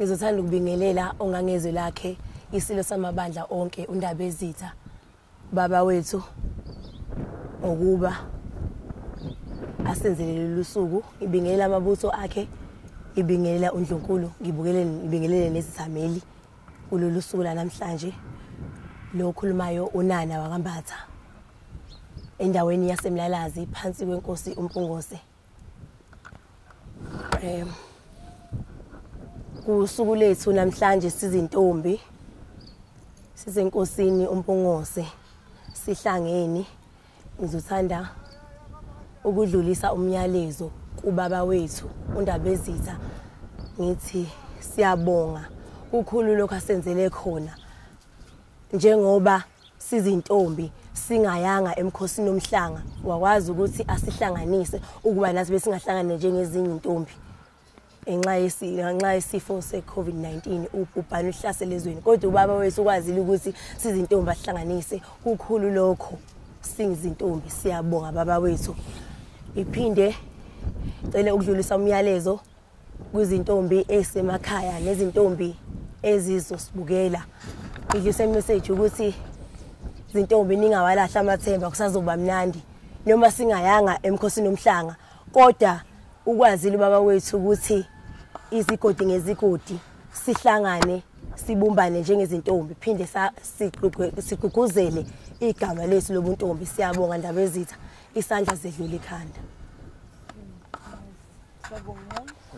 ngizothanda ukubingelela ongangezwe lakhe isilo samabandla onke undaba ezitha baba wethu ngokuba asenzele lolu suku ngibingelela amabutho akhe ngibingelela undlunkulu ngibingelele nezithameli kulolu suku lanamhlanje lo okhulumayo unana wakambatha endaweni yasemlalazi phansi kwenkosi umpungose um kusuku lethu namhlanje sizintombi sisenkosini umpungose sihlangene ngizothanda ukudlulisa umyalezo kubaba wethu undabezitha ngithi siyabonga kukhulu lokho asenzele khona njengoba sizintombi singayanga emkhosini omhlanga wakwazi ukuthi asihlanganise ukuba nathi besingahlangane njengezinye intombi ngenxa ngenxa yesifo se-covid-19 ubhubhane uhlasele ezweni kodwa ubaba wethu ukwazile ukuthi sizintombi asihlanganise kukhulu lokho singizintombi siyabonga baba wethu iphinde cele ukudlulisa umyalezo kwizintombi ezisemakhaya nezintombi ezizosibukela ngidlisa imeseji ukuthi zintombi ningawalahla amathemba kusazoba mnandi noma singayanga emkhosini omhlanga kodwa ukwazile ubaba wethu ukuthi izigodi ngezigodi sihlangane sibumbane njengezintombi phinde sigqugquzele igama lethu lobuntombi siyabonga ndaba ezitha isandla zedlula ikhanda Sabonga.